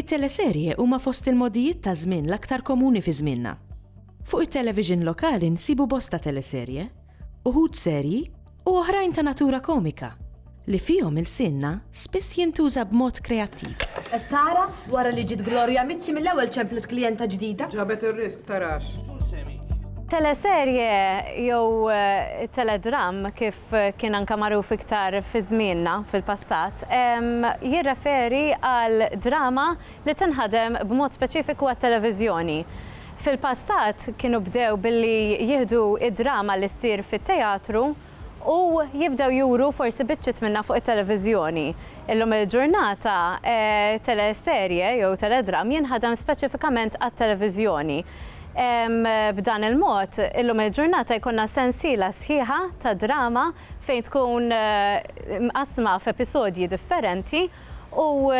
It-teleserje huma fost il-mogħdijiet taż-żmien l-aktar komuni fi żmienna. Fuq it-television lokali nsibu bosta teleserje, uħud serji u oħrajn ta' natura komika, li fihom ilsienna spiss jintuża b'mod kreattiv. Qed tara? Wara li ġiet Gloria Mizzi mill-ewwel ċemplet klijenta ġdida. Ġabet ir-riżq, tarax. Teleserje jew teledramm kif kien anke magħruf iktar fi żmienna fil-passat, jirreferi għal drama li tinħadem b'mod speċifiku għat-televiżjoni. Fil-passat kienu bdew billi jieħdu d-drama li ssir fit-teatru u jibdew juru forsi biċċiet minnha fuq it-televiżjoni. Illum il-ġurnata teleserje jew teledram jinħadem speċifikament għat-televiżjoni. B'dan il-mod, illum il-ġurnata jkollna sensiela sħiħa ta' drama fejn tkun mqassma f'episodji differenti, U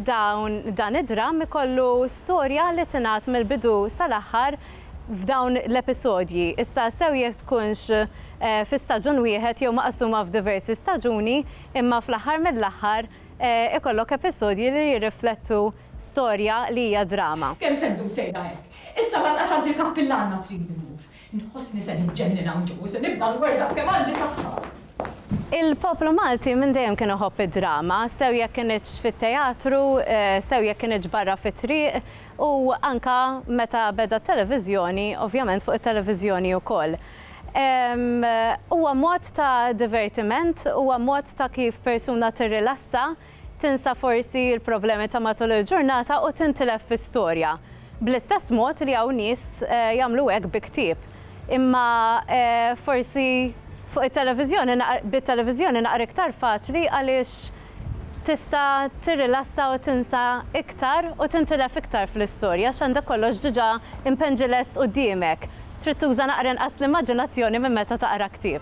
dawn dan id-dramm ikollu storja li tingħad mill-bidu sal-aħħar f'dawn l-episodji. Issa sew jekk tkunx fi staġun wieħed jew maqsuma f'diversi staġuni, imma fl-aħħar mill-aħħar ikollok episodji li jirriflettu storja li hija drama. Kemm se ddum sejra hekk? Issa lanqas għand il-kappillan ma trid immur. Inħossni se niġġennen hawn ġo u se nibda nwerżaq kemm għandi saħħa. Il-poplu Malti minn dejjem kien iħobb id-drama, sew jekk kinitx fit-teatru, sew jekk kinitx barra fit-triq u anke meta beda t-televiżjoni, ovvjament fuq it-televiżjoni wkoll. Huwa mod ta' divertiment, huwa mod ta' kif persuna tirrilassa, Tinsa forsi l-problemi ta' matul il-ġurnata u tintilef fi storja. Bl-istess mod li hawn nies jagħmlu hekk bi ktieb. Imma forsi fuq it-televiżjoni bit-televiżjoni naqra iktar faċli għaliex tista' tirrilassa u tinsa iktar u tintilef iktar fl-istorja għax għandek kollox diġà impenġi lest quddiemek. Trid tuża naqra inqas l-immaġinazzjoni minn meta taqra ktieb.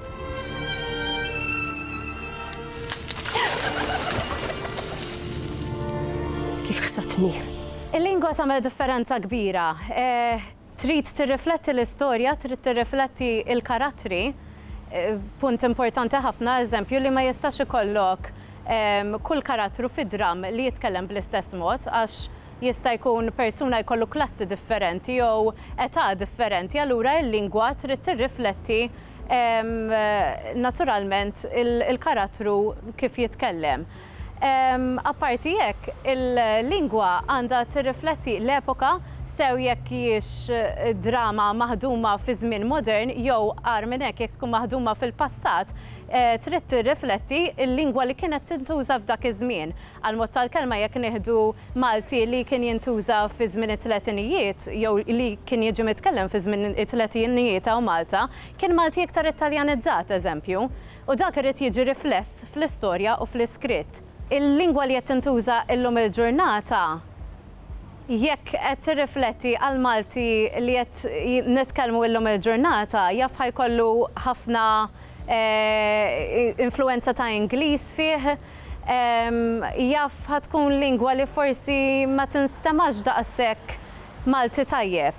Kif ħsabtni? Il-lingwa tagħmel differenza kbira. Trid tirrifletti l-istorja, trid tirrifletti l-karattri. Punt importanti ħafna, eżempju, li ma jistax ikollok kull karattru fid-dramm li jitkellem bl-istess mod għax Jista' jkun persuna jkollu klassi differenti jew età differenti, allura il-lingwa trid tirrifletti naturalment il-karattru kif jitkellem. Apparti hekk, il-lingwa għandha tirrifletti l-epoka, sew jekk hijiex drama maħduma fi żmien modern jew, agħar minn hekk, jekk tkun maħduma fil-passat, trid tirrifletti l-lingwa li kienet tintuża f'dak iż-żmien. Għall-mod tal-kelma jekk nieħdu Malti li kien jintuża fi żmien it-tletinijiet jew li kien jiġi mitkellem fi żmien it-tletinijiet hawn Malta, kien Malti iktar Italjanizzat, eżempju. U dak irid jiġi rifless fl-istorja u fl-iskritt. Il-lingwa li qed tintuża illum il-ġurnata jekk qed tirrifletti għall-Malti li qed nitkellmu illum il-ġurnata jaf ħa jkollu ħafna eh, influenza ta' Ingliż fih, jaf ħatkun lingwa li forsi ma tinstemax daqshekk Malti tajjeb.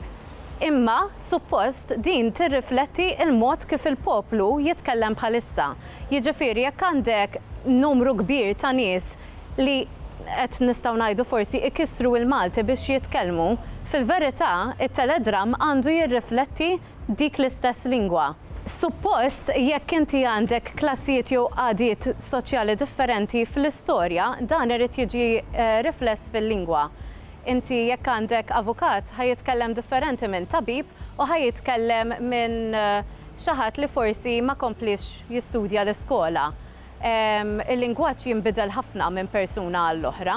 Imma, suppost, din tirrifletti il-mod kif il-poplu jitkellem bħalissa. Jiġifieri jekk għandek numru kbir ta' nies li qed nistgħu ngħidu forsi ikissru il-Malti biex jitkellmu, fil-verità it-Teledramm għandu jirrifletti dik l-istess lingwa. Suppost, jekk inti għandek klassijiet jew qagħdiet soċjali differenti fl-istorja, dan irid jiġi rifless fil-lingwa. Inti jekk għandek avukat ħa jitkellem differenti minn tabib u ħa jitkellem minn xi ħadd li forsi ma kompliex jistudja l-iskola. Il-lingwaġġ jinbidel ħafna minn persuna għall-oħra.